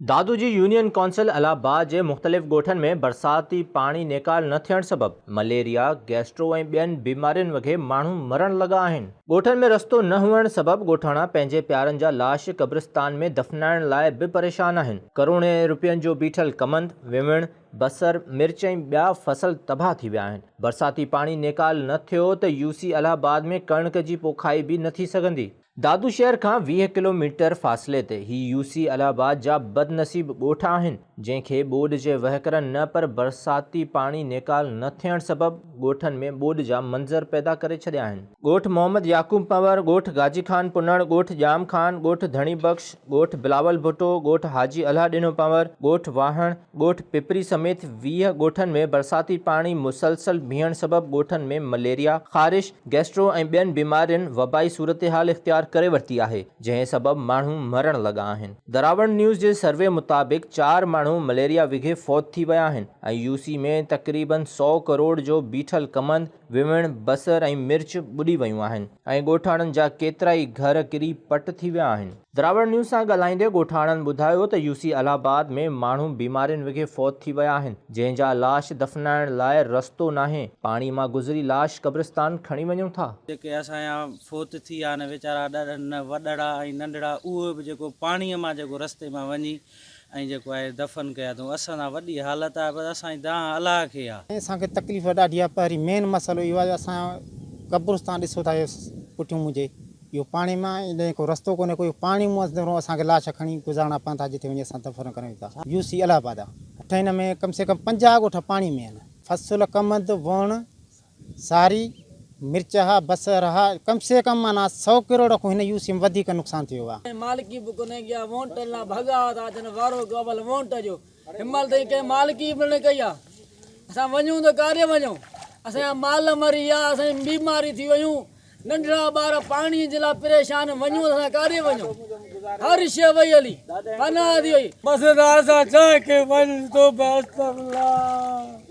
دادو جي union council Allahabad جي مختلف ڳوٺن ۾ برساتي پاڻي نيڪال نه ٿيڻ سبب مليريا، گيسٽرو ۽ ٻين بيمارين وگهي ماڻهو مرڻ لڳا آهن. ڳوٺن ۾ رستو نه هئڻ سبب ڳوٺاڻا پنهنجي پيارن جا لاش قبرستان ۾ دفنائڻ لاء به پريشان آهن. ڪروڙين رپين جو بيٺل ڪمند، ويوڻ، بصر، مرچ ۽ ٻيا فصل تباهه ٿي ويا آهن، برساتي پاڻي نيڪال نه ٿيو ته يو سي الهه آباد ۾ ڪڻڪ جي پوکائي به نه ٿي سگهندي. دادو شهر کان ويهه ڪلوميٽر فاصلي تي هي يو سي الهه آباد جا بدنصيب ڳوٺ آهن، جنهن کي ٻوڏ جي وهڪرن نه پر برساتي پاڻي نيڪال نه ٿيڻ سبب ڳوٺن ۾ ٻوڏ جا منظر پيدا ڪري ڇڏيا آهن. ڳوٺ محمد يعقوب پنور، ڳوٺ گاجي خان پنڻ، ڳوٺ ڄام خان، ڳوٺ ڌڻي بخش، ڳوٺ بلاول ڀٽو، ڳوٺ حاجي الهه ڏنو پنور، ڳوٺ واهڻ، ڳوٺ پپري سميت ويهه ڳوٺن ۾ برساتي پاڻي مسلسل بيهڻ سبب ڳوٺن ۾ مليريا، خارش، گيسٽرو ۽ ٻين بيمارين وبائي صورتحال اختيار ڪري ورتي آهي، جنهن سبب ماڻهو مرڻ لڳا آهن. دراوڙ نيوز جي سروي مطابق چار ماڻهو مليريا وگهي فوت ٿي ويا آهن ۽ يو سي ۾ تقريبن سؤ ڪروڙ جو بيٺل ڪمند، ويوڻ، بصر ۽ مرچ ٻڏي ويون آهن ۽ ڳوٺاڻن جا ڪيترائي گهر ڪري پٽ ٿي ويا آهن. دراوڙ نيوز سان ڳالهائيندي ڳوٺاڻن ٻڌايو ته يو سي الهه آباد ۾ ماڻهو بيمارين وگهي فوت ٿي ويا آهن جنهن جا لاش دفنائڻ لاء رستو ناهي پاڻي مان گذري لاش قبرستان کڻي وڃون ٿا. جيڪي اسان جا فوت ٿي ويا آهن ويچارا وڏڙا ۽ ننڍڙا اهي به جيڪو پاڻي مان جيڪو رستي مان وڃي ۽ جيڪو آهي دفن ڪيا اٿئون. اسان سان وڏي حالت آهي پر اسان جي دانهن الله کي آهي. اسان کي تڪليف ڏاڍي آهي پهرين مين مسئلو اهو آهي جو اسان قبرستان ڏسو ٿا اهي پٺيون منهنجي اهو پاڻي مان آهي ۽ ڪو رستو ڪونهي ڪو اهو پاڻي مون اندرون اسان کي لاش کڻي گذارڻا پون ٿا جتي وڃي اسان دفن ڪريون ٿا يو سي الهه آباد اٺ هن ۾ ڪم سي ڪم پنجاهه ڳوٺ پاڻي ۾ آهن فصل ڪمند ووڻ ساري، مرچ ها بصر ها ڪم سي ڪم معنيٰ سئو ڪروڙ کون هن يو سيم وڌيڪ نقصان ٿيو آ. ڪنهن مالڪي به ڪونه ڪئي آ وونٽ لا ڀڳا ٿا ٿين وارو ڪو اول وونٽ جو هنمهل تائين ڪنهن مالڪي به نه ڪئي آ اسان وڃون ته ڪاڏي وڃون اسان جا مال مري ويا اسان جي بيماري ٿي ويون. ننڍڙا ٻار پاڻي جي لاء پريشان وڃون ته اسان ڪاڏي وڃون هر شيء وئي هلي پناهه ٿي وئي. بس دار سان چئه کي وڃ تو بيست الله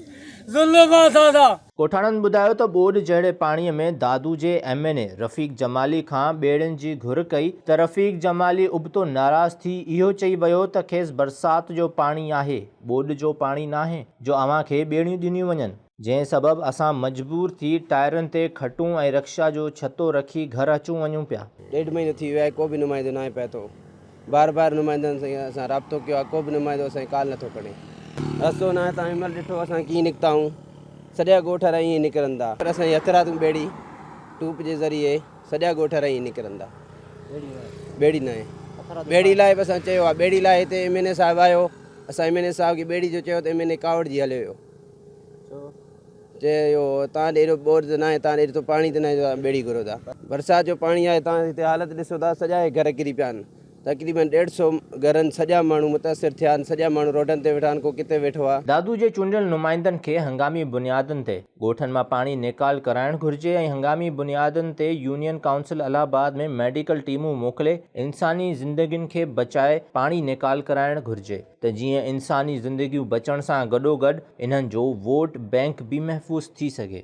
ظلم اسان سان. ڳوٺاڻن ٻڌايو ته ٻوڏ جهڙي پاڻي ۾ دادو جي M N A Rafiq Jamali کان ٻيڙين جي گهر ڪئي ته رفيق جمالي ابتو ناراض ٿي اهو چئي ويو ته کيس برسات جو پاڻي آهي ٻوڏ جو پاڻي ناهي جو اوهان کي ٻيڙيون ڏنيون وڃن. جنهن سبب اسان مجبور ٿي ٽائرن تي کٽون ۽ رڪشا جو ڇتو رکي گهر اچون وڃون پيا. ڏيڍ مهينو ٿي ويو آهي ڪو به نمائندو ناهي پهتو. بار بار نمائندن سان رابطو ڪيو آهي ڪو به نمائندو اسان جي ڪال نٿو کڻي. رستو ناهي توهان هن مهل ڏٺو اسان ڪيئن نڪتائون. سڄا ڳوٺ وارا ائين نڪرن ٿا. اسان جي هٿرادون ٻيڙي ٽوپ جي ذريعي سڄا ڳوٺ وارا ائين نڪرن ٿا. ٻيڙي ناهي. ٻيڙي لاء به اسان چيو آهي. ٻيڙي لاء هتي ايم اين اي صاحب آيو اسان ايم اين اي صاحب کي ٻيڙي جو چيو ته ايم اين اي ڪاوڙجي هليو ويو. چيو اهو تان ڏي ايڏو ٻوڏ ته ناهي تان ڏي ايترو پاڻي ته ناهي جو تان ٻيڙي گهرو ٿا برسات جو پاڻي آهي تان هتي حالت ڏسو ٿا سڄا هي گهر ڪري پيا آهن تقريبن ڏيڍ سو گهرن سڄا ماڻهو متاثر ٿيا آهن سڄا ماڻهو روڊن تي ويٺا آهن ڪو ڪٿي ويٺو آهي. دادو جي چونڊيل نمائندن کي هنگامي بنيادن تي ڳوٺن مان پاڻي نيڪال ڪرائڻ گهرجي ۽ هنگامي بنيادن تي union council Allahabad ۾ medical ٽيمون موڪلي انساني زندگين کي بچائي پاڻي نيڪال ڪرائڻ گهرجي. ته جيئن انساني زندگيون بچڻ سان گڏوگڏ انهن جو ووٽ بئنڪ به محفوظ ٿي سگهي.